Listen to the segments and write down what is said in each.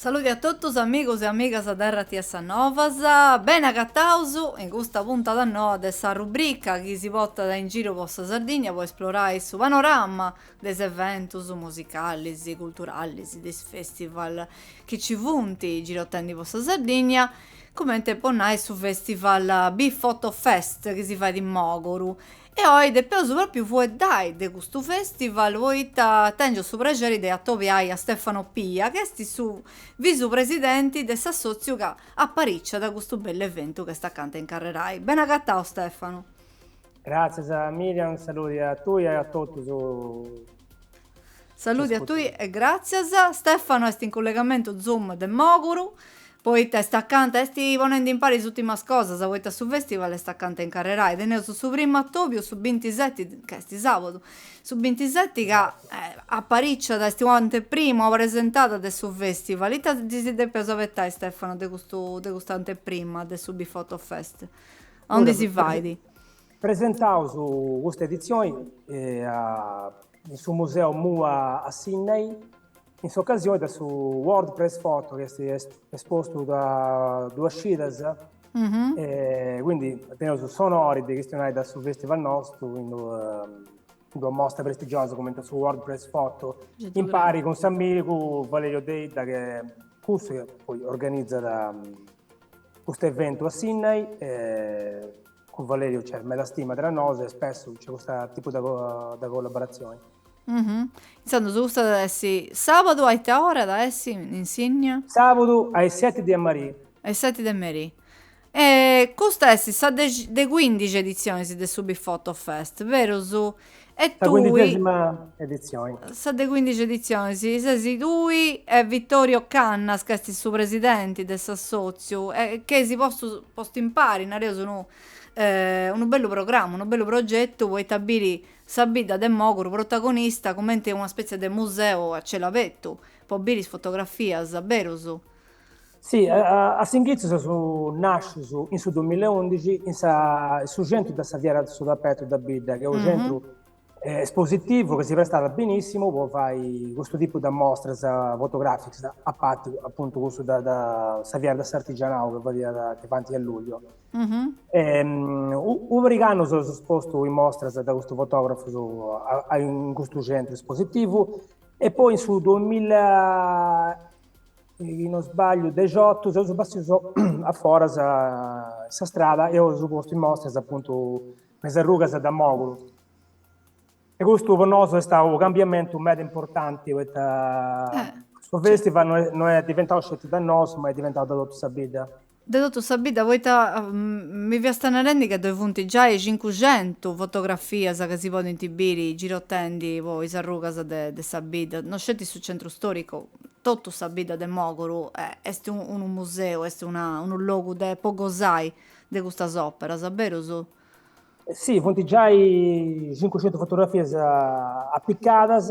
Saludi a totus amigos e amigas dae RTS Novas, beni agataus in custa puntada noa de sa rubrica chi si portat in giru po sa Sardigna po esplorai su panorama de is eventus musicalis, culturalis, de is festival chi ci funt girotendi po sa Sardigna, cumenti po nai su festival BiFoto Fest chi si fait in Mòguru. E oi depeus pròpriu fueddai de custu festival poita tèngiu su prexeri de atobiai a Stefano Pia chi est su visu presidenti de s'assòtziu ca apariciat custu bellu eventu chi est acanta a incarrerai. Ben'agatau Stefano! Gràtzias Miriam, unu saludi a tui e a totus. Saludi a tui e gràtzias. Stefano est in cullegamentu Zoom de Mòguru, poita est acanta, est ponendi impari is ùtimas cosas, poita su festival est acanta a incarrerai. Teneus su primu atòbiu su bintiseti, ca est sàbadu, su bintiseti ca apariciat, est u' anteprima, una presentada de su festival. Ita si depeus abetai Stefano de custu, de custa anteprima de su BiFoto Fest? aundi si fait? Presentaus custa editzioni in su Museu MUA a Sinnai, in s'ocasioni de su World Press Photo chi est espostu da duas cidas, quindi teneus s'onori de chistionai de su festival nostru in d'una mostra prestigiosa cumenti a su World Press Photo, impari cun s'amigu Valerio Deidda, chi est cussu chi poi organizat Custu eventu a Sinnai cun Valeriu nc'est meda stima tra nosu e spessu nc'est custu tipu de collaboratzioni. Intzandus custa at essi sàbadu a ita ora at essi in Sinnia? Sàbadu a is seti de merì. A is seti de merì. E custa est sa de cuindixi editzioni de su BiFoto Fest, berus E tui. Sa cuindixesima edizioni. Sa de cuindixi edizioni, si. Ses tui e Vittorio Cannas, ca est su presidenti de s'assotziu, e chi eis postu, postu impari, nareus unu, unu bellu programma, unu bellu progetu, poita biri sa bidda de Moguru protagonista cumenti una spetzia de museu a celu abertu, po biri is fotografias, berus. Si, a s'inghitzu seus nàscius in su duamilla e undixi in sa in su centru de sa fiera de su tapetu de bidda, chi est unu centru espositivu chi si prestat benissimu po fai custu tipu de mostras fotogràficas, a parti apuntu cussu de de sa fiera de s'artigianau chi fadiat chi faint a lugliu. U' pariga annus eus espostu in mostras de custus fotografus in custu centru espositivu e poi in su duamilla chi non sbagliu, dexotu seus bessius a foras sa strada, eus postu in mostra, apuntu me is arrugas de Mòguru. E custu po nosu est stau u' cambiamentu meda importanti poita su festival no est diventau sceti de nosu ma est diventau de totu sa bidda de totu sa bidda, poita mi fiast narendi ca ddoi funt giai cincuxentu fotografias ca si podint biri girotendi po is arrugas de de sa bidda, no sceti su centru storicu, totu sa bidda de Mòguru est unu museu, est una unu logu de podi gosai de custas operas, berus? Si, funt giai cincuxentu fotografias apicadas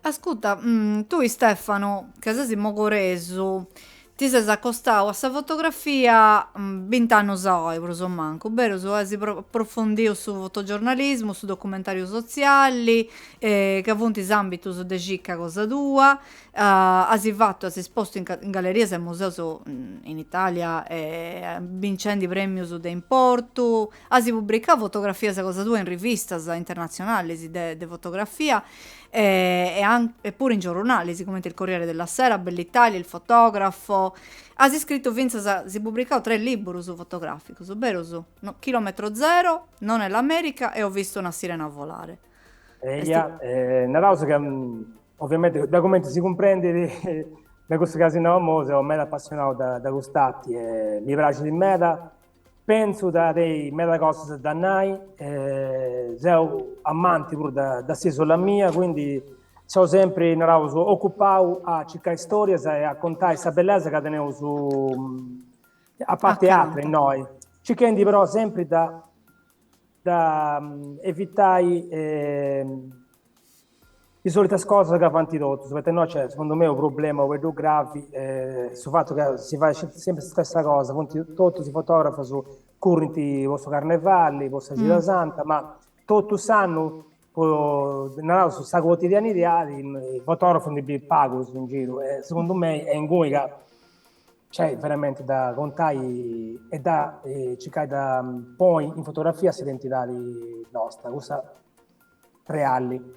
Ascurta, tui Stefano, ca sesi mogoresu, ti ses acostau a sa fotografia bint'annus aoi, prus o mancu, berus, as aprofondiu su fotogiornalismu, su documentariu sotziali, ca funt is ambitus de circa cosa tua, as fatu, as espostu in gallerias e museus in Italia, bincendi premius de importu, As pubricau fotografias cosa tua in rivistas internatzionalis de de fotografia e e puru in giorronalis cumenti il Corriere della Sera, Bell'Italia, il Fotografo. As iscritu fintzas e pubricau tres libburus fotograficus, berus? No, Chilometro zero, Non è l'America e Ho visto una sirena volare. Eia, naraus ca oviamenti da cumenti si cumprendit de cussu chi as nau imoi seu meda apassionau de de cust'arti e mi praxit meda Pentzu de tenni meda cosas da nai, seu amanti puru de s'isola mia, quindi seu sempri, naraus, ocupau a circai storias e a contai sa bellesa ca teneus innoi, circhendi però sempri de evitai Is solitas cosas ca fant totus, poita innoi nc'est, segundu mei, unu problema u' pagheddu gravi, su fatu ca si fait sceti sempri s'istessa cosa, totus is fotografus currint po su carnevali, po sa cida santa, ma totu s'annu, po naraus sa cuotidianidiadi, fotografus ndi bis pagus in giru e segundu mei est inguni ca nc'est veramenti de contai e de circai de ponni in fotografia s'identidadi nosta, cussa reali.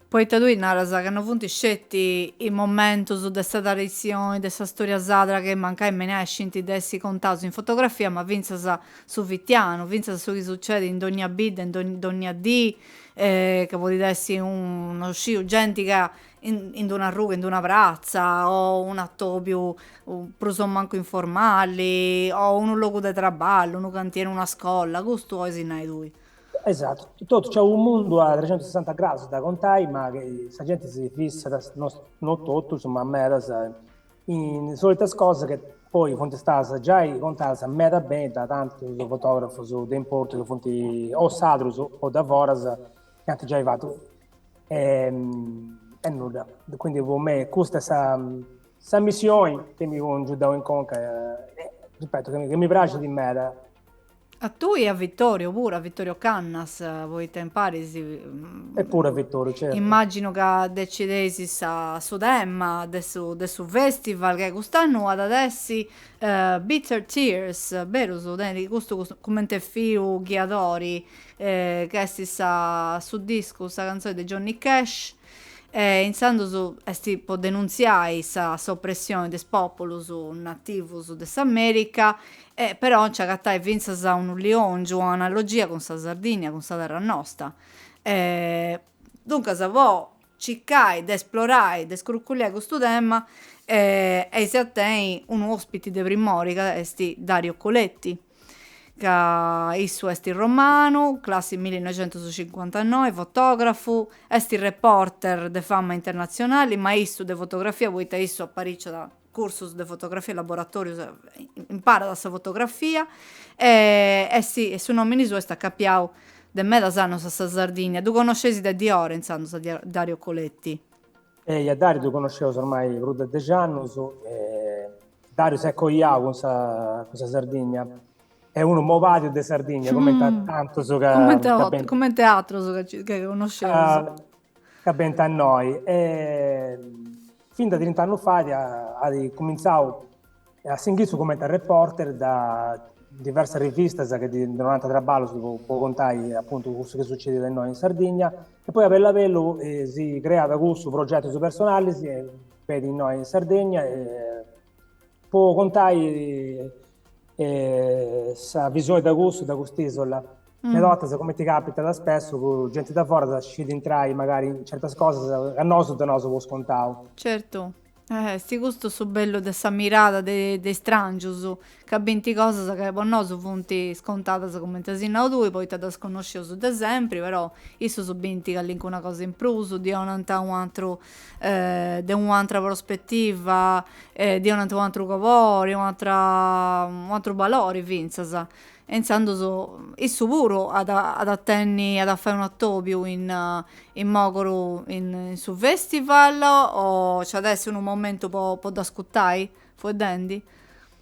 Poita tui naras ca no funt sceti is momentus de sa traditzioni, de sa storia sadra chi mancai menescint de essi contaus in fotografia, ma fintzas su fitianu, fintzas su chi sucedit in dognia bidda, in dognia dì, ca podit essi no sciu genti ca in d'una arruga, in d'una pratza, o un'atobiu prus o mancu informali, o unu logu de traballu, unu cantieri, una scolla, custu ois nai tui. Esatu, totu, nc'est unu mundu a trecentusessanta gradus de contai, ma sa genti si fissat, no totus, ma medas, in solitas cosas chi poi funt stadas giai contadas meda beni da tantus fotografus de importu chi funt o sardus o de foras chi ant giai fatu. E nudda. Quindi po mei custa est sa missioni chi mi cungiau in conca, ripeto, chi mi praxit meda A tui e a Vittorio puru, a Vittorio Cannas, poita impari. E puru a Vittorio, certu. Immaginu ca decideis sa, su tema de su, de su festival, ca cust'annu at a essi Bitter Tears, berus? Tenit custu cumenti filu ghiadori, ca est sa, su discu, sa cantzoni de Johnny Cash, e intzandus est po denuntziai sa, s'opressioni de is populus nativus de s'America, E però nci agatait fintzas unu liongiu, un'analogia cun sa Sardìnnia, cun sa terra nosta. E duncas po circai de esplorai, de scurculiai custu tema, eis a tenni unu ospiti de primori ca est Dario Coletti, ca issu est romanu, classi millinoixentuscincuantanoi, fotografu, est reporter de fama internatzionali, ma issu de fotografia, poita issu apariciat cursus de fotografia e laboratorius imparat sa fotografia, e su nomini suu est acapiau de medas annus a sa Sardigna, ddu connosceis de diora intzandus a Dario Coletti? Ehi a Dariu ddu connosceus ormai prus de dexi annus, Dariu s'est coiau cun sa cun sa Sardigna, est unu innamorau de Sardigna cumenti a tantus, cumenti atrus ca connosceus. ca benit innoi e fin de trint'annus fait at cumintzau a s'inghitzu cumenti a reporter de diversas rivistas chi ddi donant traballus po contai apuntu cussu chi sucediat innoi in Sardigna e poi a bellu a bellu si creat cussus progetus personalis e benit innoi in Sardigna e po contai Sa visioni de cussu, de cust'isola, meda 'ortas cumenti capitat spessu ca genti de foras scit intrai magari in certas cosas ca nosu donaus po scontau. Certu. Esti custu su bellu de sa mirada de de is strangius, ca binti cosas ca po nosu funti scontadas cumenti asi nau tui poita ddas connoscius de sempri, però issus binti callincuna cosa in prus, ddi 'onant u' atru de un'antra prospetiva e de un'ant u' antru cobori e un'antra u' antru balori fintzas e intzandus issu puru at at a tenni at a fai unu atobiu in in Mogoru in su festival o nci at a essi unu momentu po po dd'ascutai fueddendi?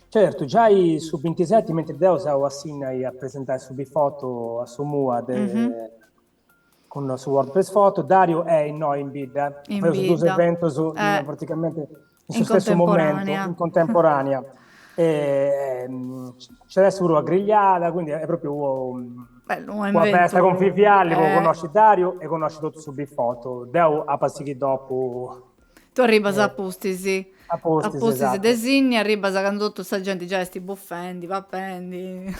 Certu, giai su bintiseti mentri deu seu a Sinnai a presentai su Bifoto a su MUA de cun su World Press Photo, Dario est innoi in bidda, fadeus duus eventus praticamenti in su stessu momentu, in contemporanea, nc'at a essi puru una grigliada, quindi est propriu una festa conviviali po connosci Dario e connosci totu su Bifoto, deu apu a sighi dopu. Tu arribas a pustis. A pustis, esatto. A pustis de Sinnia arribas candu totu sa genti giai est bufendi, papendi.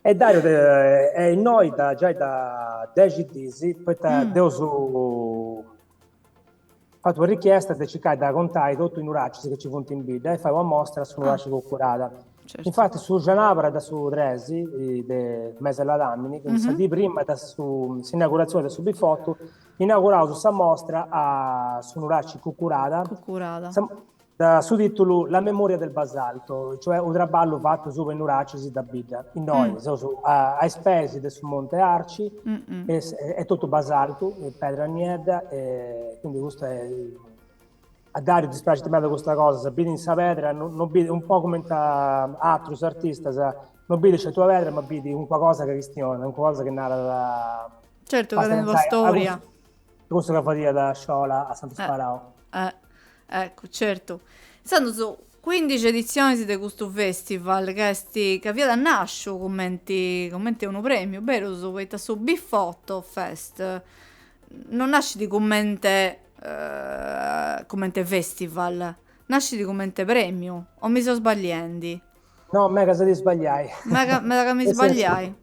E Dario est innoi giai da dexi dis, poita dd'eus fatu una richiesta de circai de acontai totu i nuracis chi nci funt in bidda e fai una mostra a su nuraci Cucurada. Infati su cenabra de su tres de mese ladamini, quindi sa dì prima de s'inauguratzioni de su bifotu, inauguraus sa mostra a su nuraci Cucurada, Da su tìtulu La memoria del basalto, cioè unu traballu fatu subra is nuracis de bidda, innoi seus a is peis de su monte Arci, est totu basaltu, pedra niedda, quindi custa est, a Dariu ddi praxit meda custa cosa, issu bidit in sa pedra, non bidit, un po cumenti a atrus artistas, non bidit sceti una pedra ma bidit calincuna cosa chi chistionat, calincuna cosa chi narat, Certu ca tenit una storia Custu ca fadiat Sciola a Santu Sparau. Eh, eh, eccu, certu. Intzandus cuindixi editzionis de custu festival ca est ca fiat nàsciu cumenti cumenti unu prèmiu, berus, poita su Bifoto Fest non nascit cumente cumente festival, nascit cumente prèmiu, o mi seu sbagliendi? No, megas a ti sbagliai. Mega meda ca mi sbagliai.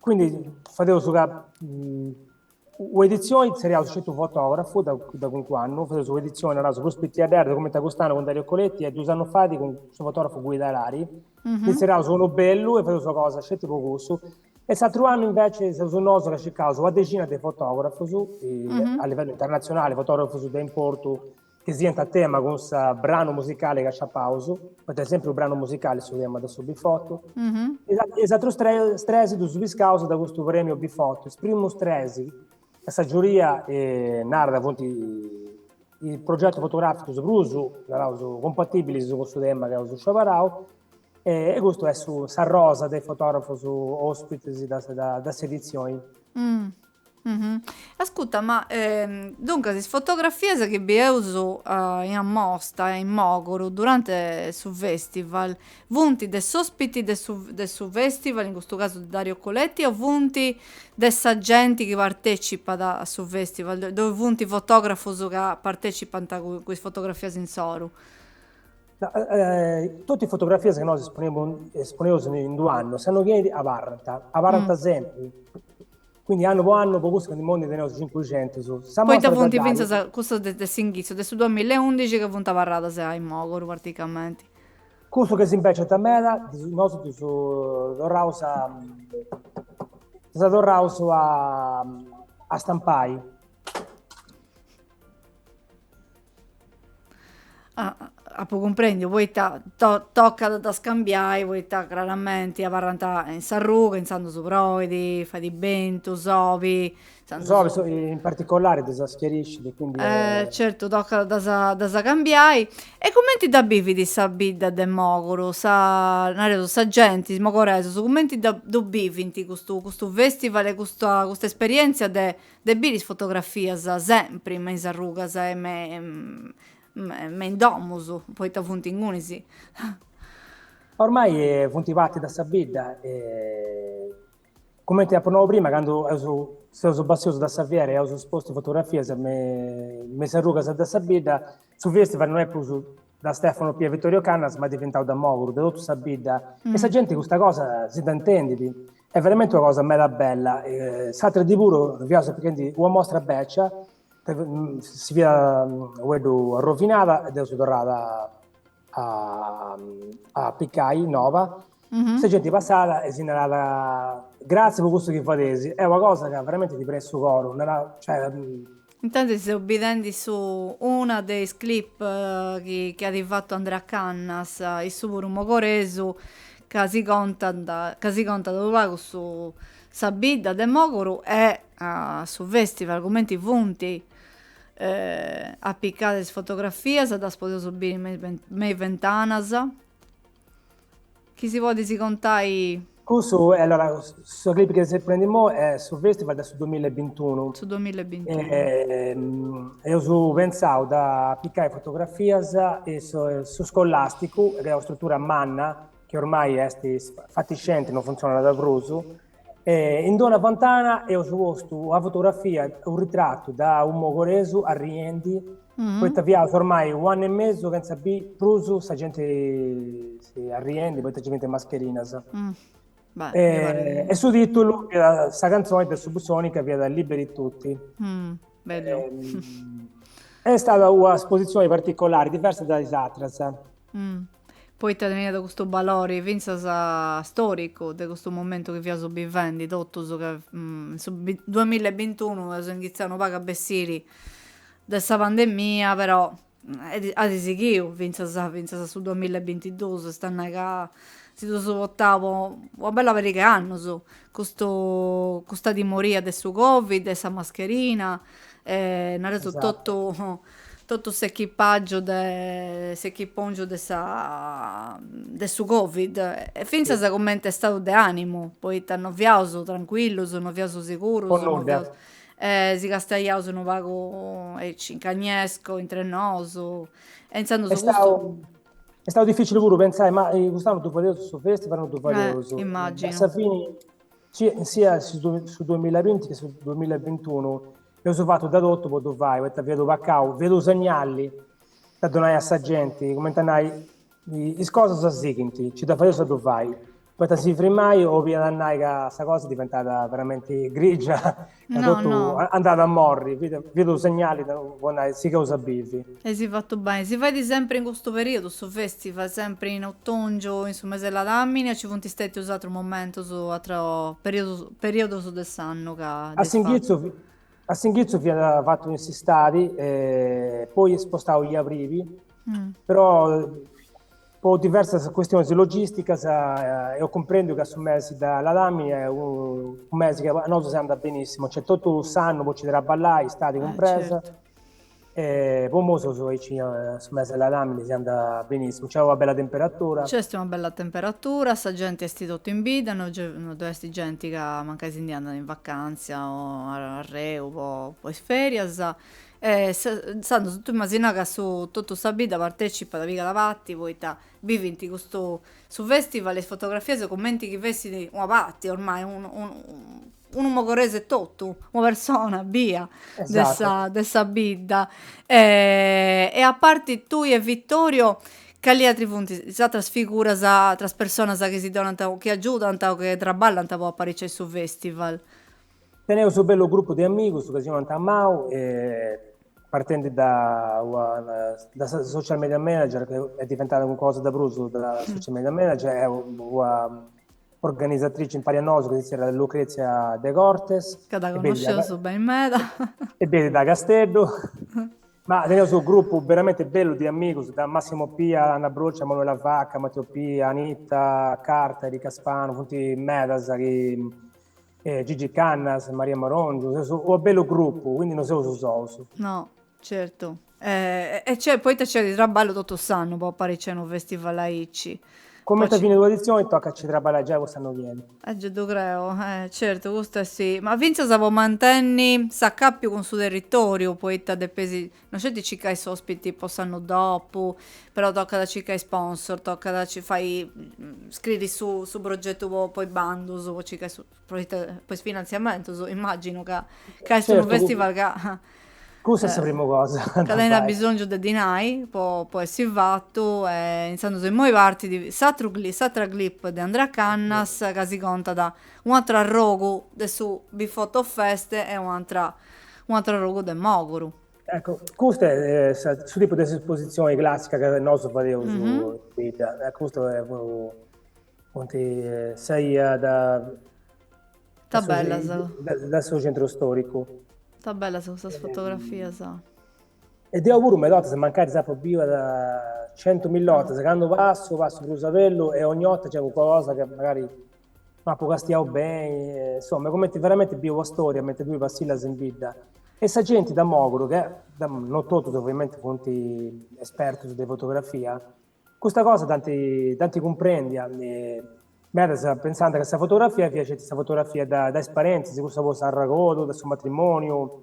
Quindi fadeus ca u'editzioni tzerriaus sceti u' fotografu, da da cuncu annu fadeus u'editzioni, naraus, prus pitiaddedda, cumenti a cust'annu cun Dario Coletti, e dus annus fait cun su fotografu Guido Harari, ndi tzerriaus unu bellu e fadeus una cosa sceti po cussu. E s'atru annu inveci seus nosu ca circaus una dexina de fotografus a livellu internatzionali, fotografus de importu chi siant a tema cun su branu musicali chi aciapaus, poita est sèmpiri u' branu musicali su tema de su Bifotu, e is atrus tres tres ddus piscaus de custu prèmiu Bifotu, is primus tres, ca sa giuria narat ca funt is progetus fotogràficus prus, naraus, cumpatibilis cun su tema chi eus sciobarau, e custu est su s'arrosa de is fotografus ospitis de s'editzioni Ascuta ma duncas is fotografias chi bieus in amosta in Mòguru durante su festival funt de s'òspiti de su de su festival in custu casu de Dario Coletti o funt de sa genti chi partecipat a su festival ddoi funt fotografus ca partecipant cun is fotografias insoru? Totu is fotografias chi nosu esponeus in d'unu annu, s'annu chi 'enit abarrant, abarrant sempri, quindi annu po annu po cussu candu imoi ndi teneus cincuxentus. Poita funt fintzas cussus de s'inghitzu de su duamilla e undixi ca funt abarradas in Mogoru praticamenti. Cussus chi s'imbeciant meda, nosu ddus torraus a ddas torraus a stampai apo cumprendiu poita tocat a ddas cambiai poita craramenti abarrant in s'arruga intzandus su proit fait bentu sobi sobi sobi in particolari ddas sclarit e quindi certu tocat a ddas a ddas cambiai e cumenti dda bivit sa bidda de Moguru sa nareus sa genti is mogoresus cumenti dda ddu bivint custu custu festival e custa custa esperienzia de De biri is fotografias sempri me is arrugas e me me in domus, poita funt ingunis. Ormai funt parti de sa bidda e cumenti apu nau prima candu eus seus bessius de sa fiera e eus postu fotografias me is arrugas de sa bidda su festival no est prus Da Stefano Pia e Vittorio Cannas ma est diventau de Moguru de totu sa bidda e sa genti custa cosa si dda intendit, est veramenti una cosa meda bella. S'atru dì puru fiaus apichendi una mostra bècia, si fiat u' pagheddu arrovinada e dd'eus torrada a a apicai noba Sa genti passat e si narat, gratzias po cussu chi fadeis, est una cosa ca veramenti ti prenit su coru, narat, cioè. Intantis seu bidendi su una de is clip chi at fatu Andrea Cannas, issu puru mogoresu, ca si contant, ca si contat unu pagu su sa bidda de Mogoru e su festival cumenti funt apicadas is fotografias, ddas podeus biri me is bentanas. Chi si podis contai? Cussu, allora, su clip chi seis ponnendi immoi est su festival de su duamilla e bintunu. Su duamilla e bintunu. E eus pentzau de apicai fotografias in su scolasticu, chi est una strutura manna, chi ormai est fatiscenti, non funtzionat prus, E in d'una fontana eus postu una fotografia, unu ritratu de unu mogoresu arriendi, mm-hmm. poita fiaus ormai u annu e mesu chentza bi prus sa genti arriendi, poita ci fint mascherinas. Mm. Beh, e, e su titulu fiat sa canzoni de Subsonica fiat Liberi Tutti. Mm. Bellu. E, est istada una espositzioni particolari, diversa de is atras. Poita teniat custu balori fintzas storicu de custu momentu chi fiaus bivendi totus ca in su duamilla e bintunu eus inghitzau unu pagu a bessiri de sa pandemia però At sighiu fintzas fintzas a su duamilla e bintidus, est a nai ca si dd'eus portau po una bella pariga 'e annus, custu custa timoria de su Covid e sa mascherina e nareus totu totu s'echipagiu de s'echipongiu de sa de su Covid e fintzas cumenti istadu de animu, poita non fiaus trancuillus, non fiaus sigurus, po nudda, E si castaiaus unu pagu aici, in cagnesco, intre nosu, e intzandus su custu... Est stau dificili puru pentzai, ma cust'annu ddu fadeus su festival, no ddu fadeus. Eh, immaginu. A sa fini, sia su 2020 che su 2021, eus fatu de totu po ddu fai, poita fiat u pecau, fiat u segnali de donai a sa genti, cumenti a nai, is cosas sighint, nci dda fadeus a ddu fai. Poita si frimai obiat a nai ca sa cosa diventat veramenti grigia e totu andat a morri, fiat unu segnali po nai sigheus a bivi. Eis fatu beni. Si fait sempri in custu periodu, su festival, sempri in otòngiu, in su mes'e ladàmini o nci funt stètius atrus momentus, atrus periodus de s'annu ca dd'eis fatu? A s'inghitzu fiat fatu in s'istadi e poi spostau in abrivi, però Po diversas custionis logisticas eus cumprendiu ca su mesi de ladàmini est unu mesi chi a nosu si andat benissimu, nc'est totu s'annu po nci traballai, istadi cumpresa, e po mosus aici su mesi de ladàmini si andat benissimu, nc'est una bella temperatura. Nc'est una bella temperatura, sa genti est totu in bidda, no ddu est genti ca mancai si ndi andat in vacantzia o arreu po is ferias, E intzandus tui immagina ca su totu sa bidda partecipat pigat parti poita bivint custu su festival is fotografias cumenti chi fessit una parti ormai unu mogoresu etotu una persona bia de sa de sa bidda e aparti tui e Vittorio cali atri funt is atras figuras atras personas chi si donant chi agiudant o chi traballant po apariciai su festival. Teneu su bellu grupu de amigus ca si nant amau e partendi da, da sa social media manager ca est diventada cunca cosa de prus de una social media manager e una organizatrici impari a nosu ca si zerriat Lucrezia De Cortes. Ca dda connosceus beni meda. E benit de Casteddu. Ma teneus unu grupu beramenti bellu de amigus, da Massimo Pia, Anna Broccia, Manuela Vacca, Matteo Pia, Anita Carta, Erica Spanu, funt medas chi eh, Gigi Cannas, Maria Marongiu, seus u' bellu grupu, quindi no seus sous. No, certu. Eh, e c'è, poita c'è di traballu totu s'annu po apariciai unu festival aici. Comenti a finit un' edizioni tocat a ci traballai giai po s'annu chi 'enit. Eh, gei ddu creu, eh, certu, custu est sì. Ma fintzas po mantenni s'acapiu cun su territoriu, poita depesi No sceti a circai s'ospiti po s'annu dopu, però tocat a circai sponsor, tocat a fai, scriri su, su progetu po, po is bandus, po circai su, proita, po is finanziamentus, immaginu ca, ca est unu festival ca, Cussa est sa primu cosa. Ca tenit bisongiu de dinai po, po essi fatu e intzandus immoi partit s'atru clip, s'atra clip de Andrea Cannas ca si contat u' atru arrogu de su BìFotoFest e u' atra Un'atru arrogu de Mòguru. Ecco, custu est sa, su tipu de s'espositzioni classica ca nosu fadeus in bidda. E custas funt is 'ias de, Ta bellas. de su centru storicu. Ta bellas custas fotografias. E deu puru meda 'ortas, mancari dd'apu biu centumilla 'ortas, candu passu, passu prus a bellu e ogni 'orta c'est cunca cosa ca magari No apu castiau beni, insoma, e comenti veramenti bivi una storia mentras tui passillas in bidda. E sa genti da Mogru, chi no totus ovviamenti funt espertus de fotografia, custa cosa dd'ant dd'ant cumprendia, medas pensànt ca sa fotografia fiat sceti sa fotografia da is parentis, cussa po s'arregodu, de su matrimoniu,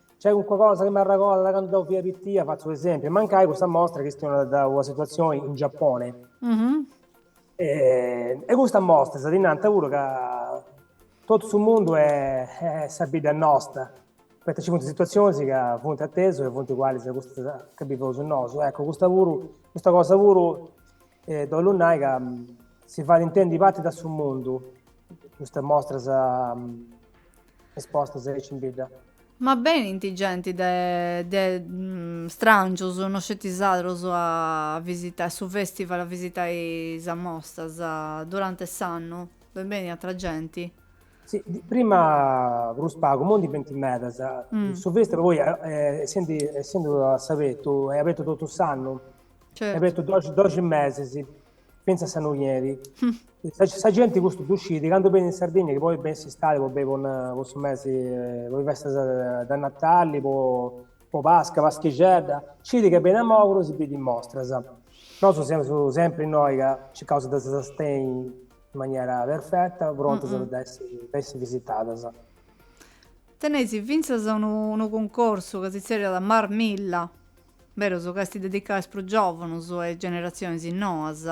Nc'est cunca cosa chi m'arregodat de candu deu fia pitia, fatzu unu esempiu, mancai custa mostra chistionat de una situazioni in Giappone. E custas mostras ti nant puru ca totu su mundu est est sa bidda nosta, poita nci funt situazionis ca funt a tesu e funt ugualis a custas ca biveus nosu. Eccu, custa puru, custa cosa puru deu 'ollu nai ca si faint intendi parti de su mundu, custa mostra Est posta aici in bidda. Ma benint genti de, de mm, strangios, no sceti sardos a visitai su festival, a visitai sas mostas durante s'annu? Ddoe benit atra genti? Sì, prima prus pagu, immoi ndi benint medas. Mm. Su festival poi, eh, essendi, essendu a s'abetu, è abetu totu s'annu. Certo. È abetu 12, 12 mesis. Pensa a sa noghiedda. Sa, sa genti custu ddu scit, candu benit in Sardinnia, chi poi benit s'istadi po duncas po, po su mesi, po is festas da Natali, po, po Pasca, Paschixedda, scit ca benit a Mogru e si bidit mostras. Nosu semus sempri innoi ca circaus de ddas sustenni in maniera perfetta, prontas po dda essi, po essi visitadas. Teneis fintzas unu, unu cuncursu chi si tzerriat Marmilla. Berus ca est dedicada a is prus giòvunus e a is generatzionis noas.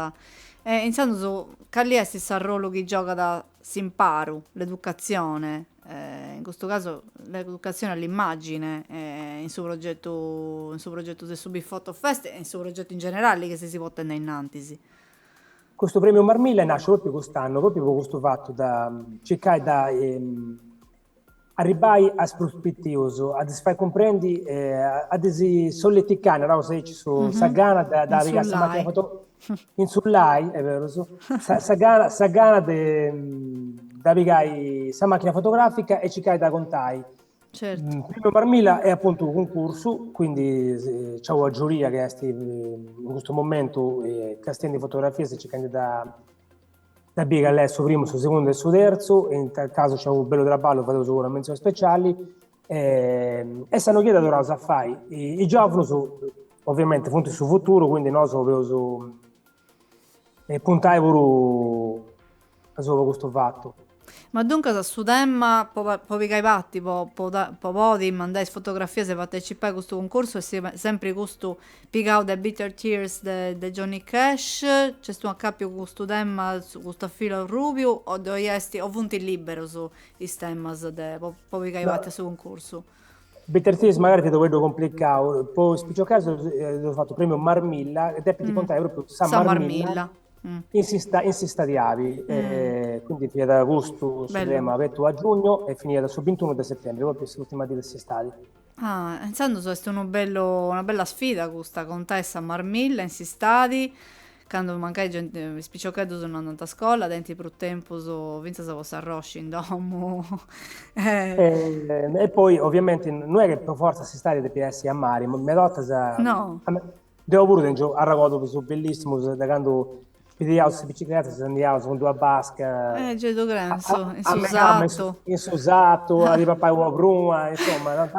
E intzandus cali est s'arrolu chi giogat s'imparu, l'educatzione, in custu casu l'educatzione a l'immàgine, in su progetu, in su progetu de su BìFotoFest e in su progetu in generali chi seis potendi ainnantis? Custu Prèmiu Marmilla est nàsciu pròpriu cust'annu, pròpriu po custu fatu, da circai de Arribbai a is prus pitius, a ddis fai cumprendi, a ddis solleticai, naraus aici, sa gana de pigai sa machina foto, insullai, est berus, sa gana de pigai sa machina fotografica e circai de acontai. Certu. Primiu Marmilla est apuntu cuncursu, quindi c'at una giuria chi est in custu momentu castendi fotografias e circandi de Da bì cale est su primu, su segundu e su terzu, in tal casu nc'est unu bellu traballu, fadeus puru una mentzioni speciali, e sa noghiedda torraus a fai, is giovunus ovviamenti funt su futuru, quindi nosu doveus puntai puru asuba a custu fatu Ma duncas a su tema, po po pigai parti, po po po podi mandai is fotografias e partecipai a custu cuncursu est sempri custu pigau de Bitter Tears de de Johnny Cash, nc'est unu acapiu cun custu tema, su custu filu arrubiu o ddoi est o funt liberus is temas de po po pigai parti a su cuncursu? Bitter Tears magari fit u' pagheddu complicau, po is piciocheddus eus fatu prèmiu marmilla, depint contai pròpriu sa Marmilla in s'istadi in s'istadi abi, quindi fiat custu su tema, abertu a giugnu e finiat su bintunu de setembri, pròpriu s'ùrtima dì de s'istadi. Ah, intzandus est unu bellu una bella sfida custa, contai sa Marmilla in s'istadi, Candu mancai genti, is piciocheddus no andant a scola, tenint prus tempus fintzas po s'arroxi in domu. E poi oviamenti no est chi po fortza s'istadi depit essi a mari, meda 'otas. No. Deu puru tengiu arregordus bellissimus de candu pigiaus is bicicletas e andiaus cun d'una basca. Eh gei ddu creu, in su sartu. In su sartu a si papai una pruna, insoma.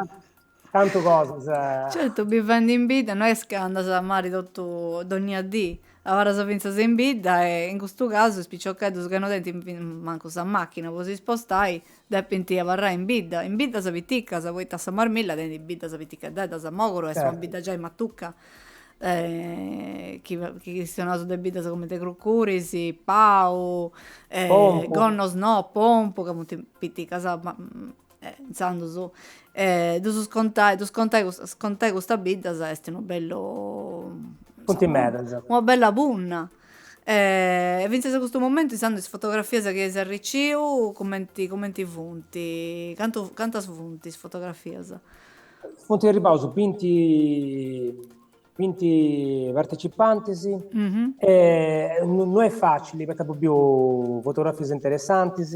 Tantu cosas. Certu, bivendi in bidda no est ca andas a mari totu, dònnia dì, abarras fintzas in bidda e, in custu casu, is piciocheddos ca no tenint mancu sa màchina po si spostai, depint abarrai in bidda, in biddas piticas, poita sa Marmilla tenit biddas piticheddeddas, Mògoro est una bidda giai matuca, chi chistionaus de biddas cumenti Crucuris, Pau, Gonnosnò, Pompu, ca funt piticas, ma e intzandus ddus contai, ddus contai custas, contai custas biddas est unu bellu Funt medas. Una bella punna e fintzas a custu momentu intzandus is fotografias chi eis arriciu cumenti cumenti funt, cantu cantas funt is fotografias? Funt arribaus binti binti participantis e no est facili poita apu biu fotografias interessantis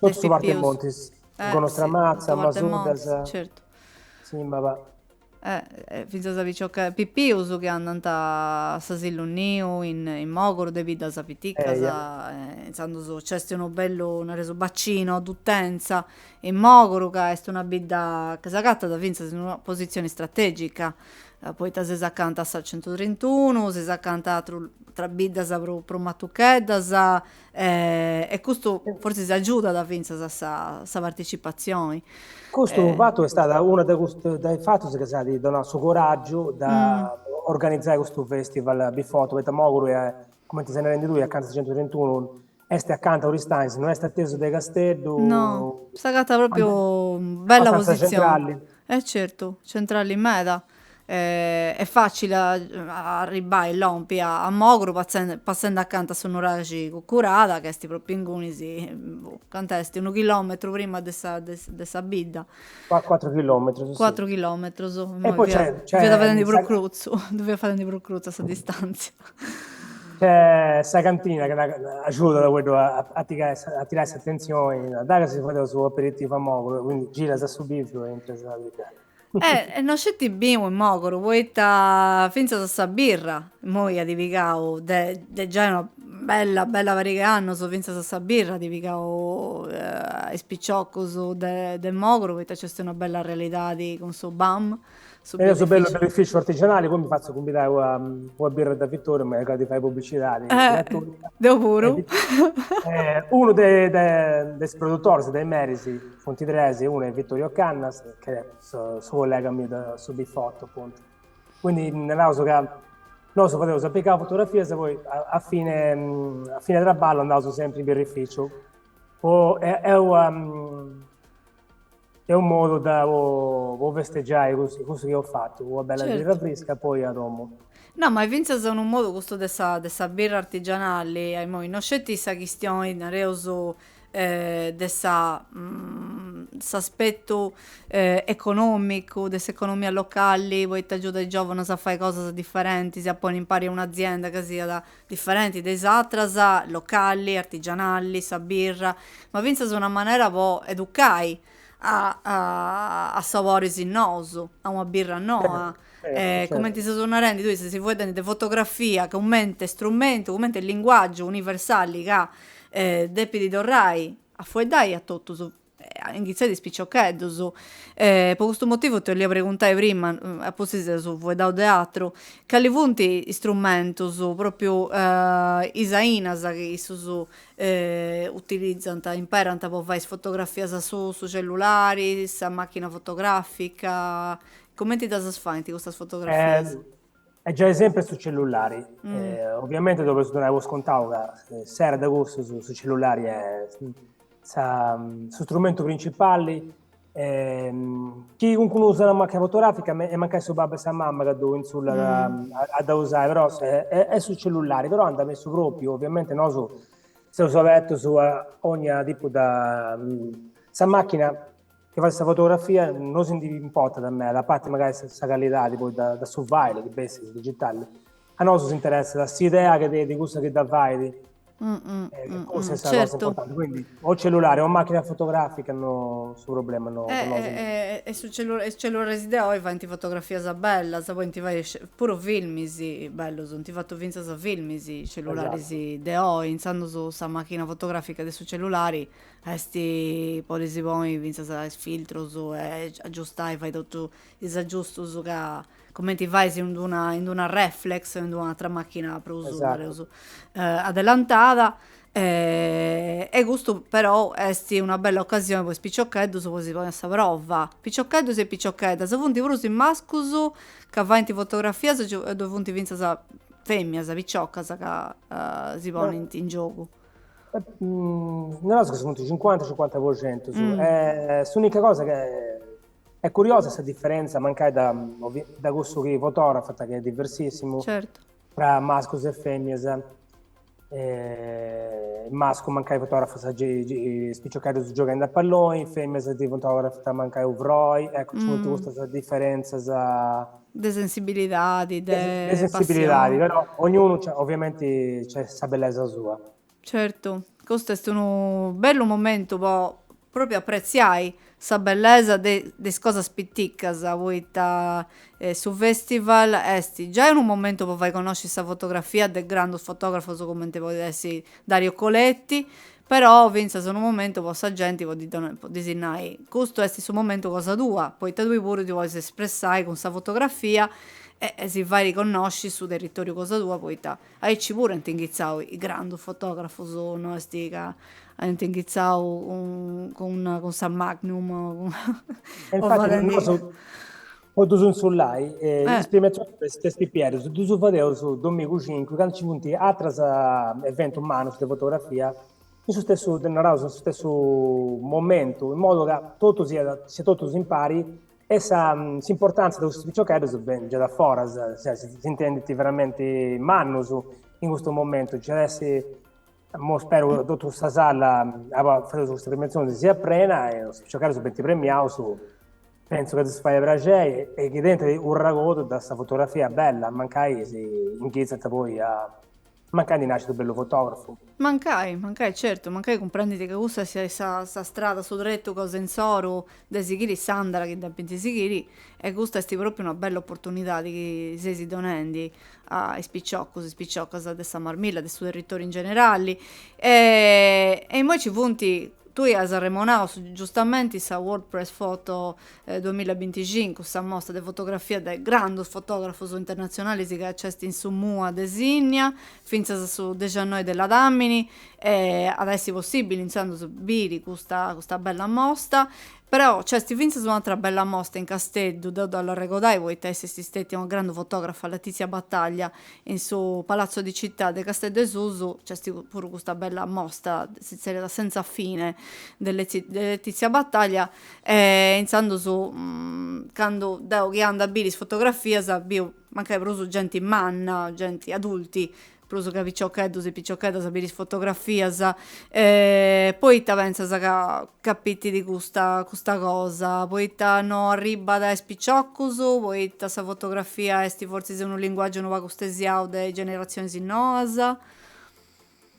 Totu su Parte pipius. Montis. Eh, Gonnos sì, Tramatza, totu Parte Masuddas, Montis, certu. Sìmaba. Eh, eh, fintzas a picioche- pipius chi andant a s'asilu niu in in Mogoru de biddas piticas, Eia. eh, intzandus nc'est unu bellu, nareus, bacino d'utenza, in Mogoru, ca est una bidda ca s'agatat fintzas in una positzioni strategica, poita ses acanta a sa centutrintunu, ses acanta atrus, ateras biddas prus prus matucheddas, e custu forsis agiudat fintzas a sa sa participazioni. Custu fatu est stata una de custus de is fatus chi s'at donau su coraggiu de organizai custu festival BiFoto, poita Moguru est, cumenti ses narendi tui, acanta sa centutrintunu, est acanta Aristanis, no est atesu de Casteddu. No, s'agatat propriu bella posizioni. Abbastanza centrali. E certu, centrali meda. Est fàcile a arribbai e lompi a Mogru passendi acanta a su nuraxi Cucurada ca est propriu ingunis, cantu est, unu chilòmetru prima de sa de sa bidda. Cuatru chilòmetrus, sì. Cuatru chilòmetrus, imoi fia fadendi prus crutzu, ddu fia fadendi prus crutza sa distàntzia. Nc'est sa cantina chi agiudat a fueddus a tirai a tirai s'atentzioni, dai, si fadeus su aperitivu a Mogru, quindi giras a su bìviu e intras a bidda. E e no sceti binu in Mogoru, poita fintzas a sa birra, immoi at pigau de de giai una bella bella pariga 'e annus, fintzas a sa birra at pigau a is piciocus de de Mogoru, poita nc'est una bella realidadi cun su BAM, su birrifici. Eja su bellu birrificiu artigianali, poi mi fatzu cumbidai ua ua birra da Vittoriu, mi arregodu de fai publicidadi gratuita. Deu puru. Unu de de de is produtoris de is meris Funt tres, unu est Vittorio Cannas, ch'est su collega miu de su Bifotto, appuntu. Quindi naraus ca nosu fadeus a pigai fotografias e poi a fine a fine traballu andaus sempri in birrificiu poi est unu modu po festeggiai cussu cussu chi eus fatu, una bella birra frisca e poi a domu. No, ma est fintzas unu modu custu de sa de sa birra artigianali, immoi, no sceti sa chistioni, nareus, de sa s'aspetu econòmicu de s'economia locali poita agiudat is giòvanos a fai cosas diferentis, a ponni impari un'azienda ca siat diferenti de is atras, locali, artigianali, sa birra, ma fintzas una manera po educai a saboris nous, a una birra noa, cumenti ses narendi tui, sesi fueddendi de fotografia cumenti strumentu, cumenti linguaggiu universali ca depidi torrai a fueddai a totus, inghitzendi de is piciocheddus, po custu motivu ti 'ollia preguntai prima, a pustis si fueddaus de atru, cali funt is strumentus, propriu is ainas chi issus utilizant, imperant po fai is fotografias su su cellulari, sa machina fotografica, cumenti ddas faint custas fotografias? Est giai sempri su cellulari, oviamenti donaus po scontau ca s'edadi cussa su cellulari est sa su strumentu principali chi calincunu usat una macchina fotografica est mancai su babbu o sa mama ca ddu insullat a dda usai, però est su cellulari, però andat bessu propriu, ovviamente nosu seus abertus a ogna tipu de, sa macchina chi fait sa fotografia no si ndi importat meda, a parti mancai sa callidadi poi de su file chi bessit, in digitali A nosu s'interessat s'idea chi tenit cussu chi dda fait, cussa est sa cosa importanti, quindi o cellulare o machina fotografica no su problema no po nosu no est. E su cellulare, is cellulares de oi faint fotografias bellas, podint fai puru filmis bellus, ant fatu fintzas filmis is cellularis de oi, intzandus sa machina fotografica de su cellulari ddoi podis ponni fintzas is filtrus e agiustai, fai totus is agiustus ca cumenti fais in d'una in d'una reflex o in d'una atra machina prus nareus adelantada e custu però est una bella occasioni po is piciocheddus po si ponni a sa prova, piciocheddus e piciocheddas, funt prus is mascus ca faint fotografias o ddoi funt fintzas feminas piciocas ca si ponint in giogu. Nareus chi funt cincuanta cincuanta po centu e s'unica cosa ca Est curiosa sa diferentza, mancai da, da cussu chi fotografat ca est diversissimu, certo. tra mascus e feminas. E, mascu mancai fotografat is piciocheddus gioghendi a palloni, feminas ti fotografant mancai unu frori, ecco nci funt custas diferentzas. De sensibilidadi, de, de sensibilidadi, passioni. Però ognunu, ovviamenti, nc'est sa bellesa sua. Certu, custu est unu bellu momentu po propriu apretziai sa bellesa de de is cosas piticas, poita su festival est giai unu momentu po fai connosci sa fotografia de grandus fotografus cumenti podit èssiri Dario Coletti, però finzas unu momentu po sa genti po ddi donai po ddis nai, custu est su momentu cosa tua, poita tui puru ti podis espressai cun sa fotografia e si fai connosci su territoriu cosa tua poita Aici puru ant inghitzau is grandus fotografus, no est ca aiant inghitzau cun sa Magnum o cun. Po ddus intzullai, is premiatzionis po is pipieddus ddus fadeus domigu cincu candu nci funt atrus eventus mannus de fotografia in su stessu, naraus in su stessu momentu, in modu ca totu siat, siat totus impari E sa s'importàntzia de custos piciocheddus benit giai a foras, cioè s'intendint veramenti mannus in custu momentu, nci at essi, immo speru ca totu sa sala abì fadeus custa premiatzioni si siat prena e is piciocheddus benint premiaus, pentzu ca ddis fait praxeri e chi tenint un'arregodu de sa fotografia bella, mancai si inchitzant poi a Mancai ndi nascit unu bellu fotografu. Mancai, mancai, certu, mancai cumprendint ca cussa siat sa sa strada, su tretu cosa insoru de sighiri s'àndara chi depint sighiri e custa est propriu una bella opportunidadi chi seis donendi a is piciocus, is piciocas de sa Marmilla, de su territoriu in generali e e immoi ci funt, tui as arremonau giustamenti sa World Press Photo duamillabinticincu, sa mostra de fotografia de grandus fotografus internatzionalis ca nc'est in su MUA de Sinnia, fintzas a su dexannoi de ladamini, e at a essi possibili intzandus biri custa custa bella mosta, però nc'est fintzas un'atra bella mosta in Casteddu, dda bollu arregodai poita est stetia una grandu fotografa Letizia Battaglia, in su Palazzo di Città de Casteddu 'e Susu nc'est puru custa bella mosta, si zerriat Senza fine de de Letizia Battaglia, E intzandus candu deu chi anda a biri is fotografias biu mancai prus genti manna, genti adulti, prus ca piciocheddus e piciocheddas a biri is fotografias, poita pentzas ca capitit custa custa cosa, poita no arribbat a is piciocus, poita sa fotografia est fortzis unu linguaggiu unu pagu stesiau de is generatzionis noas.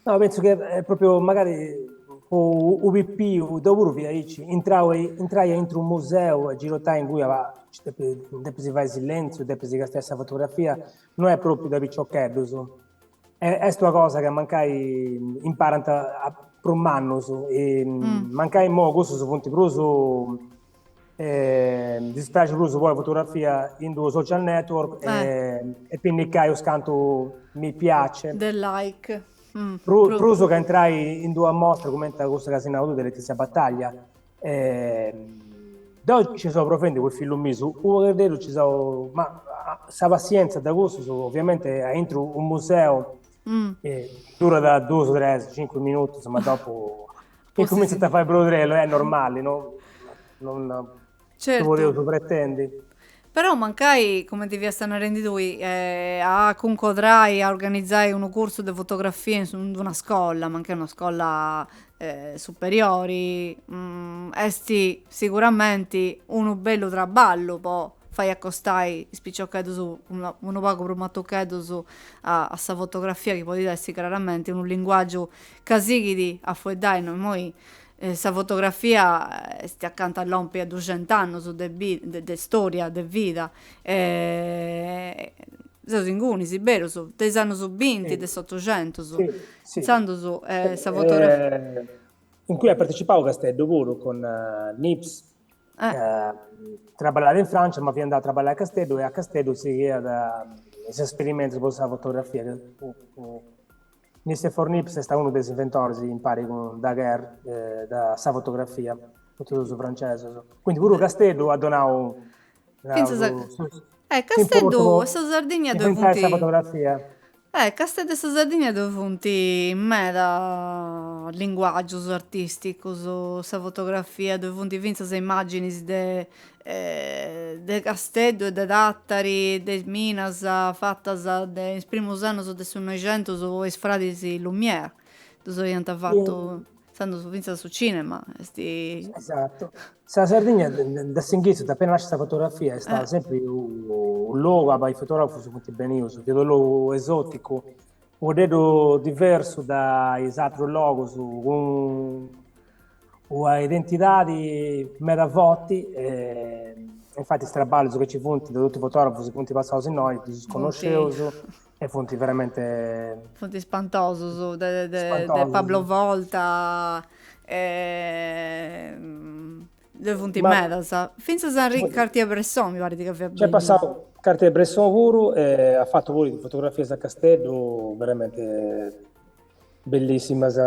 No, penso che è proprio magari po u pipiu deu puru fia aici intrai a intru u museu a girotai in cui depis fai silenziu depis castiai sa fotografia no est propriu de piciocheddus e est una cosa chi mancai imparant prus mannus e mm. mancai imoi cussus funt prus Ddis praxit prus poi fotografia in d'unu social network e pinnicai us cantu mi piace. De like. Prus ca intrai in d'una mostra cumenti a cussa ca si nau tui de Letizia Battaglia. Deu nci seu provvendi cun is fillus mius, u' poghededdu nci seu, ma sa passienza de cussus ovviamenti aintru u' museu durat duus tres cincu minutus ma dopu Cumintzant a fai brodrellu, est normali, no? Non ddu podeus pretendi. Però mancai, cumenti fiasta narendi tui, a cuncodrai, a organizai unu cursu de fotografia in in d'una scolla, mancai una scolla superiori, est siguramenti unu bellu traballu po fai acostai is piciocheddus unu pagu prus matucheddus a sa fotografia chi podit essi craramenti unu linguàgiu Ca sighit a fueddai no immoi sa fotografia est acanta a lompi a duxent'annus de storia de vida e seus ingunis berus de is annus binti de s'otuxentus intzandus sa fotografia. In cui at partecipau Casteddu puru cun Niépce traballàt in Francia ma fiat andau a traballai a Casteddu e a Casteddu sighiat is esperimentus po sa fotografia Nicéphore Niépce est unu de is inventores, impari cun Daguerre, de sa fotografia, totus duus francesos. Quindi puru Casteddu at donau, naus, su, s'importu po inventai sa fotografia. Casteddu e sa Sardigna ddoi funt meda linguagius artisticus, sa fotografia, ddoi funt fintzas imaginis de de Casteddu e de Tàtari, de is minas fatas in is primus annus de su Noixentus de is fradis Lumière, ddus iant fatu intzandus fintzas su cinema. Esatu. Sa Sardigna de s'inghitzus, de apena nàscia sa fotografia, est stada sempri u logu abai is fotografus funt benius, fiat u logu esoticu, u pagheddu diversu de is atrus logus, cun Una identidadi meda forti e infati is traballus chi nci funt de totu is fotografus chi funt passaus innoi ddus connosceus e funt veramente Funt spantosus de spantosus. Pablo Volta ddoi funt Ma- medas. Fintzas Henri Cartier-Bresson mi parit ca fiat Nc'est passau Cartier-Bresson puru e at fatu puru is fotografias a Casteddu veramente bellissimas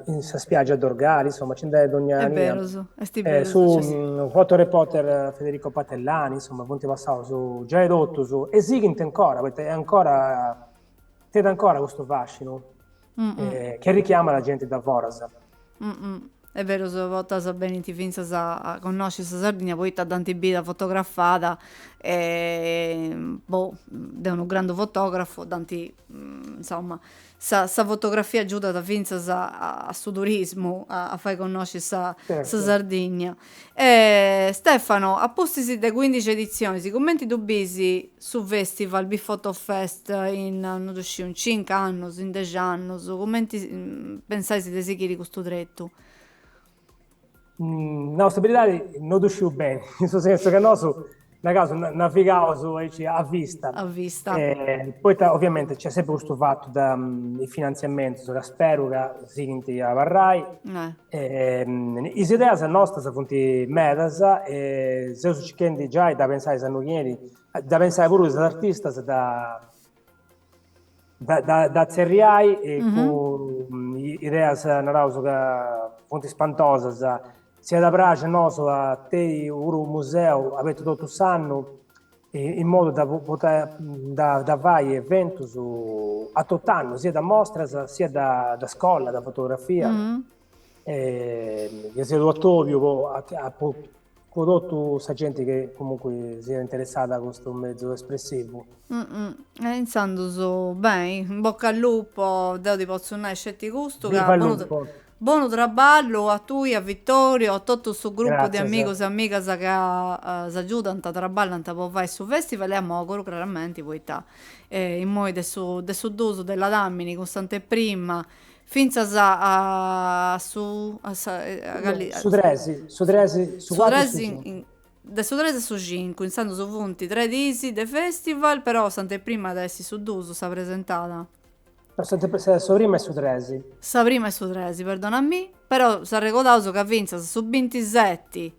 in sa spiaggia a Dorgali, insomma nci andant dognia annu. Est berus, est eh, berus. Su cioè... Mm, fotoreporter Federico Patellani, insomma, funt passaus giai totus e sighint ancora, poita è ancora, tenet ancora custu fascinu mm -mm. Eh, chi arrichiamat genti da foras. Est berus a bortas benint fintzas a connosci sa Sardigna poita dd'ant bida fotografada e boh de unu grandu fotografu dd'ant insoma sa sa fotografia agiudat fintzas a su turismu a fai connosci sa Sardigna E Stefano, a pustis de cuindixi editzionis, cumenti ddu bis su festival Bifoto Fest in, non ddu sciu, in cincu annus, in dexi annus, cumenti pensais de sighiri custu tretu? Nau sa beridadi, non ddu sciu beni, in su sensu ca nosu Naraus, navigaus aici a vista. A vista. Poita oviamenti nc'est sempri custu fatu de is finantziamentus ca speru ca sighint a abarrai. Is ideas nostras funt medas e seus circhendi giai de pensai s'annu chi benit, de pensai puru is artistas e de de tzerriai e cun ideas, naraus ca funt ispantosas, si iat a praxi a nosu a tenni puru unu museu abertu totu s'annu in modu de podi fai eventus a tot'annu, siat de mostras, siat de scola de fotografia E chi siat un'atòbiu po po totu sa genti chi comunque siat interessada a custu mezu espressivu. E intzandus beni, in bocca al lupo, deu ti potzu nai sceti custu ca Viva il lupo. Bonu traballu a tui e a Vittorio e a totu su gruppu de amigus e amigas ca s'agiudant, traballant po fai su festival e a Moguru craramenti poita immoi de su de su dusu della damini cun s'anteprima Fintzas a su a sa a No, Galli a su tres, su tres, su su cuatru e su cincu. in de su tres a su cincu, intzandus funt tres diis de festival, però s'anteprima at essi su duus sa presentada. No s'anteprima, sa sa prima est su tres. Sa prima est su tres, perdona a mi, però s'arregodaus ca fintzas su bintiseti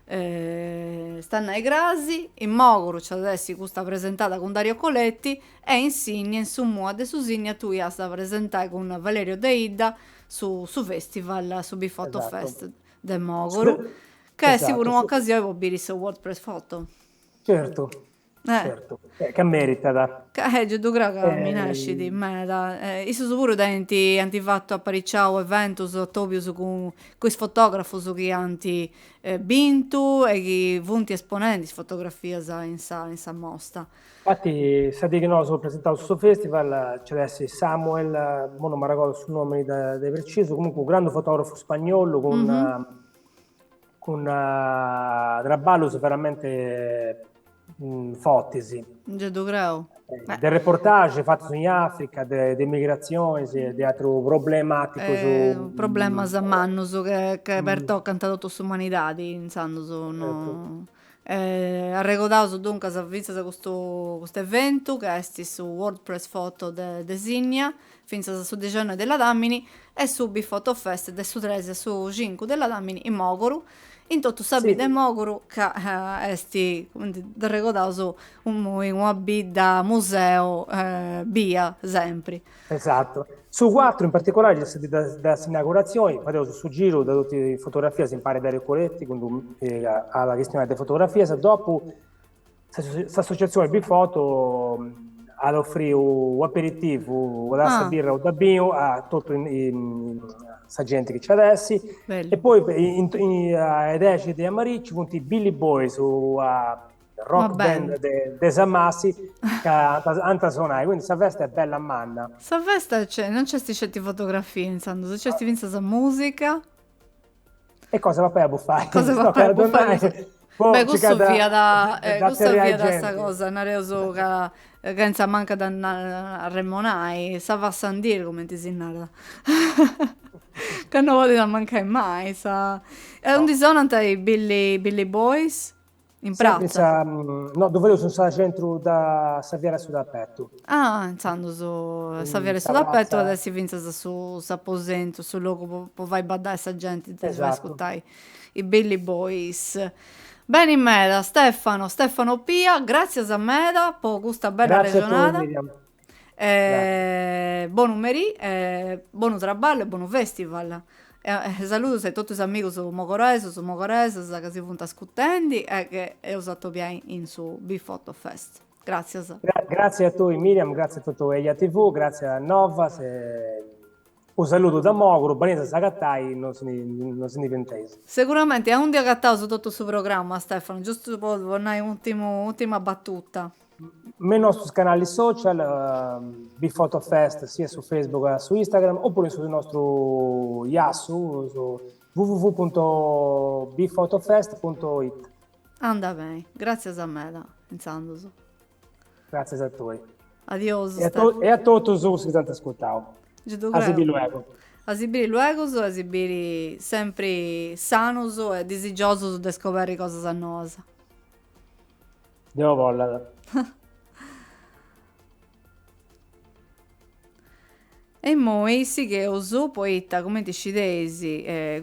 Est a nai cras, in Mògoro nci at a essi custa presentada cun Dario Coletti e in Sinnia, in su Mua de Sinnia, tui as a presentai cun Valerio Deidda su su festival, su Bifoto Fest de Mògoro, ca est puru un'ocasioni po biri su World Press Photo. Certu, Certu, ca meritat. Giai ddu creu ca minescit meda. Issus puru tenint, ant fatu apariciau eventus atobius cun cun is fotografus chi ant bintu e chi funt esponendi is fotografias in sa in sa mostra. Infati sa dì chi nosu eus presentau su festival nci at essi Samuel, imui non m'arregodu su nomini de de precisu, comunque unu grandu fotografu spagnolu cun cun traballus veramente fortis. Ge ddu creu. De reportage fatus in Africa, de migratzionis e de atrus problematicus. Problemas mannus chi pertocant totu s'umanidadi intzandus no. Arregodaus duncas fintzas custu custu eventu ca est su World Press Photo de de Sinnia, fintzas a su dexennoi de Ladamini e su Bifoto Fest de su tres a su cincu de Ladamini in Mòguru, in totu sa bidda 'e Mòguru ca est, cumenti dd'arregodaus, unu una bidda museu bia sempri. Esatu. Su cuatru in particulari est sa dì de s'inauguratzioni, fadeus su giru de totu is fotografias impari Dario Coletti chi nd'at a chistionai de fotografias, dopu s'associatzioni Bifoto at a ofriri u' aperitivu de birra o de binu a totu sa genti chi nc'at essi e poi in in a is dexi de a merì nci funt is Billy Boys rock band de Samassi ca ant a sonai, quindi sa festa est bella manna. Sa festa nc'est, non nc'est sceti fotografia intzandus, nc'est fintzas sa musica. E cosa 'e papai e bufai? Cosa 'e papai e bufai? Beh custu fiat, custa fiat sa cosa, nareus ca ca intzandus mancàt a remonai, ça va sans dire cumenti si narat, ca no podit mancai mai sa. E undi sonant i Billy Billy Boys? In pratza? No, ddu fadeus in su centru de sa Fiera de su Tapetu. Ah, intzandus sa Fiera de su Tapetu at a essi fintzas su s'aposentu, su logu po po fai baddai sa genti, po fai ascurtai i Billy Boys. Beni meda, Stefano, Stefano Pia, gràtzias meda po custa bella arrexonada. Gratzi a tui Miriam. Bonu merì e bonu traballu e bonu festival. Saludos a totu is amigos mogoresos, mogoresas ca si funt ascutendi e ca eus a atobiai in su Bifoto Fest. Gràtzias. Gratzi a tui Miriam, gratzi a totu Eja TV, gratzi a Novas e unu saludu da Moguru, benei a s'agatai, nos nos ndi fenteis. Seguramenti aundi agataus totu su programma Stefano, giustu po nai un'ùrtima battuta. me is nostros canalis social Bifotofest sia su Facebook che su Instagram oppure in su nostru giassu su www.bifotofest.it Anda bene, gràtzias meda intzandus. Gràtzias a tue. Adiosu E a to- e a totus cus chi s'ant ascurtau. Gei ddu A si bi creu. luego. A si biri luegus e a si biri sempri sanus e disigiosus de scoberri cosas noas. Deus bollat. E immoi sigheus poita, cumenti scideis,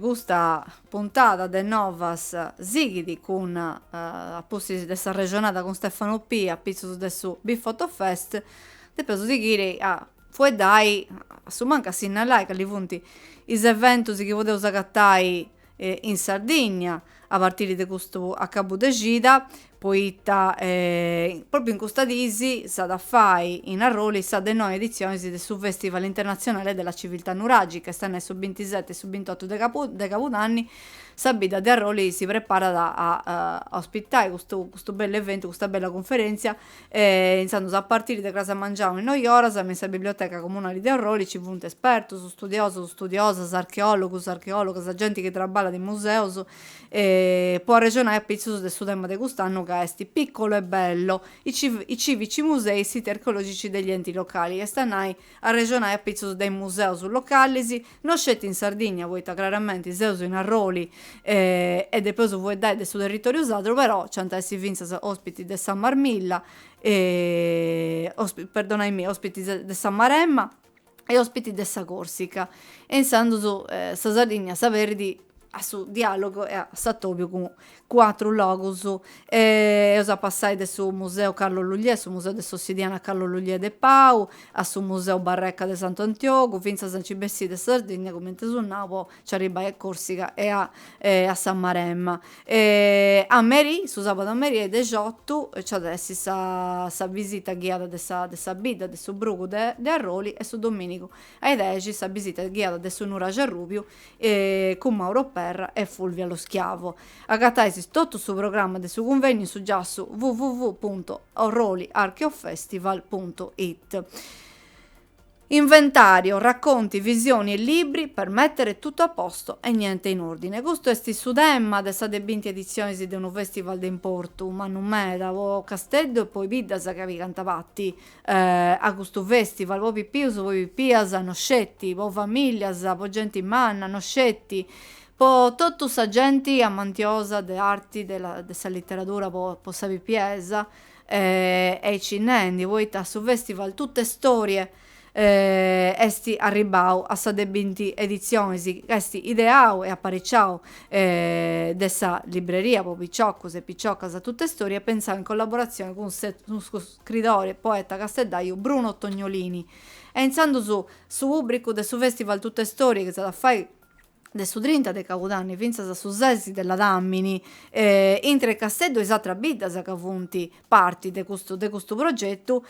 custa puntada de Novas sighit cun a pustis de s'arrexonada cun Stefano Pi a pitzus de su Bifotofest, depeus sighiri a fueddai, a su mancu a sinnalai cali funt is eventus chi podeus agatai in Sardigna a partiri de custu acabu de cida poita propriu in custas dis s'at a fai in Arroli sa de noi editzionis de su Festival internatzionale della civiltà nuragica est a nai su bintiseti e su bintotu de de cabudanni sa bidda de Arroli si preparat a ospitai custu bellu eventu custa bella cunferèntzia E intzandus a partiri de cras a mangianu is noi oras me in sa biblioteca comunali de Arroli ci funt espertus, studiosus, studiosas, archeòlogus, archeòlogas, genti chi traballat in museus e po arrexonai apitzus de su tema de cust'annu ca est piccolo e bello, i i civici musei e siti archeologici degli enti locali, est a nai arrexonai apitzus de is museus localis, No sceti in Sardigna, poita craramenti seus in Arroli e depeus fueddai de su territòriu sadru, però nc'ant a essi fintzas òspitis de sa Marmilla perdonai-mi, òspitis de sa Maremma e òspitis de sa Còrsica e intzandus sa Sardigna s'aberit a su dialogu e a s'atobiu cun atrus logus. Eus a passai de su Museu Carlo Lugliè, su Museu de s'Ossidiana Carlo Lugliè de Pau, a su Museu Barreca de Santu Antiogu, fintzas a nci bessiri de Sardigna, cumenti eus nau, po nci arribbai a Corsica e a a sa Maremma. A merì, su sabadu a merì a is dexotu nci at essi sa sa bisita ghiada de sa de sa bidda de su brugu de de Arroli e su dominigu a is dexi sa bisita ghiada de su Nuraxi Arrubiu e cun Mauro Perra e Fulvia Lo Schiavo. Agatais totu su programma de su cunvènniu in su giassu www.orroliarcheofestival.it. Inventario, racconti, visioni e libri per mettere tutto a posto e niente in ordine. Custu est su tema de sa de binti editzionis de unu festival de importu mannu meda po Casteddu e po is biddas chi pigant pati a custu festival po pipius po pipias no sceti po familias po genti manna no sceti po totu sa genti amantiosa de arti de la de sa literadura po po sa pipiesa aici nendi poita su festival Tuttestorie esti arribbau a sa de binti edizionis ca esti ideau e appariciau de sa libreria po piciocus e piciocas Tuttestorie e pensau in collaborazioni cun scridore e poeta casteddaju Bruno Tognolini e intzandus su pùbricu de su festival Tuttestorie chi s'at a fai de su trinta de cabudanni fintzas a su ses de ladàmini intre Casteddu e is atras biddas ca funt parti de custu de custu progetu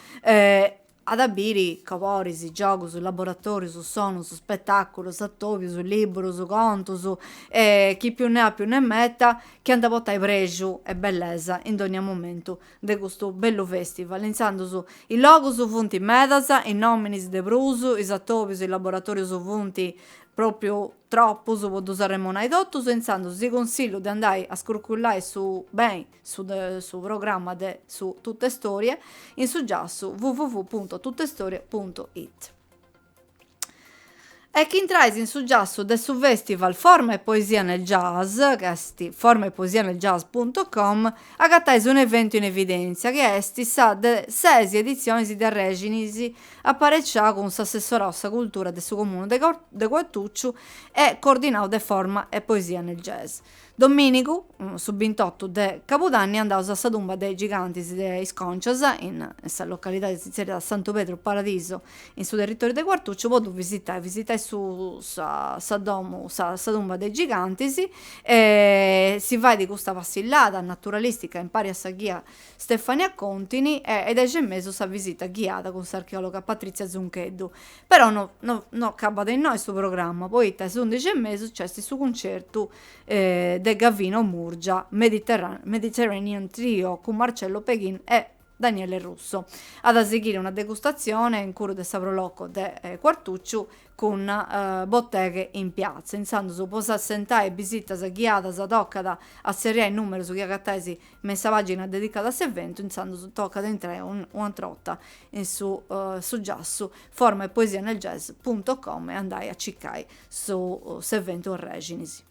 at a biri coboris giogus laboratòrius sonus spetàculus atòbius liburus contus chi più ne ha più ne metta chi ant a portai prexu e bellesa in dònnia momentu de custu bellu festival, intzandus is logus funt medas, is nominis de prus, is atobius, is laboratorius funt propriu tropus po ddus arremonai totus e intzandus si consillu de andai a scurcullai su beni su de su programma de su Tuttestorie in su giassu www.tuttestorie.it. E chi intrais in su giassu de su festival Forma e Poesia nel Jazz, ca est formaepoesianeljazz.com, agatais un'eventu in evidèntzia, chi est sa de ses editzionis de Arrèxinis, apareciau cun s'assessorau a sa cultura de su comunu de Cuartucciu e coordinau de Forma e Poesia nel Jazz. Domìnigu, su bintotu de cabudanni, andaus a sa tumba de is gigantis de is Còncias, in sa localidadi si tzerriat Santu Pedru Paradiso, in su territoriu de Cuartucciu, po ddu visitai, visitai su sa sa domu sa sa tumba de is gigantis e si fait custa passillada naturalistica impari a sa ghia Stefania Contini e a is dexi e mesu sa visita ghiada cun s'archeòloga Patrizia Zuncheddu. Però no no acabat innoi su programma poita a is undixi e mesu nc'est su cuncertu de Gavino Murgia Mediterranean Trio cun Marcello Peghin e Daniele Russo. At a sighiri una degustatzione incuru de sa Pro Loco de Quartucciu cun Botteghe in Piazza. Intzandus po s'assentai a is bisitas ghiadas tocat a tzerriai is numerus chi agatais me in sa pàgina dedicada a s'eventu intzandus tocat a intrai un'atra orta in su su giassu forma e poesia nel jazz punto com e andai a cicai su s'eventu arrèxinis.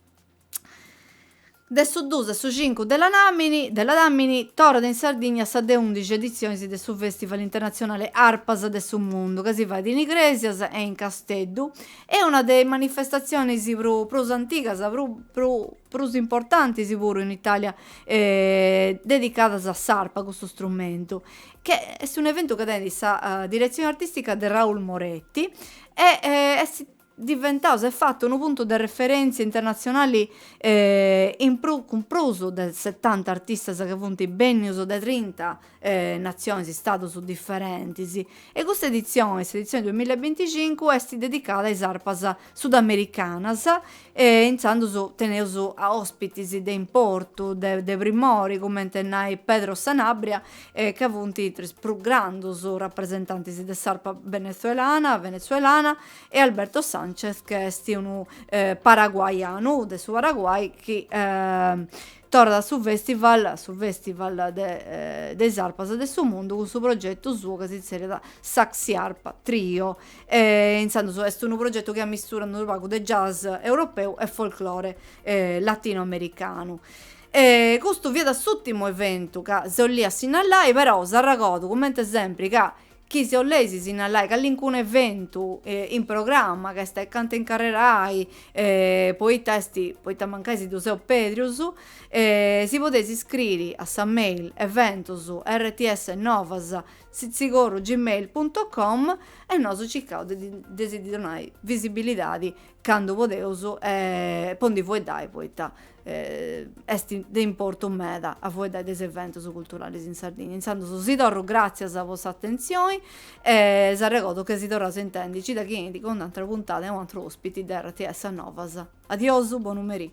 De su duus a su cincu de lanamini de ladàmini torrat in Sardigna sa de undixi editzionis de su fèstival internatzionale Arpas de su mundu ca si fait in Igrèsias e in Casteddu est una de is manifestatzionis prus antigas prus prus importantis puru in Italia dedicadas a s'arpa, custu strumentu, chi est un'eventu chi tenit sa diretzioni artistica de Raul Moretti e est diventau, s'est fatu unu puntu de referentzia internatzionali cun prus de setanta artistas chi funt bennius de trinta e natzionis, istadus diferentis, e custa editzione, s'editzione duamilla e binticincu, est dedicada a is arpas sudamericanas e intzandus teneus ospitis de importu, de de primori, cumenti nai Pedro Sanabria, ca funt intra is prus grandus rapresentantis de s'arpa benetzuelana, venezuelana, e Alberto Sanchez, ca est unu paraguaianu, de su Paraguai, chi Torrat su festival, su festival de de is arpas de su mundu cun su progetu suo ca si zerriat Saxi Arpa Trio e intzandus est unu progetu chi ammisturat unu pagu de jazz europeu e folklore latino americanu. E custu fiat s'ùrtimu eventu ca si 'olia sinnallai, però s'arregodu cumenti sempri ca chi si 'olleis sinnallai callincunu eventu in programma ca est acanta 'e incarrerai poita est poita mancai si ddu seus pedrius si podeis iscriri a sa mail eventus rts novas sitzigorru gmail punto com e nosu circaus de de si ddi donai visibilidadi candu podeus e po ndi fueddai poita est de importu meda a fueddai de is eventus culturalis in Sardigna. Intzandus si torru gràtzias po s'atentzioni e s'arregodu che si torraus a intendi cida chi 'enit cun un'atra puntada e u' antru ospiti de rts Novas. Adiosu, bonu merì.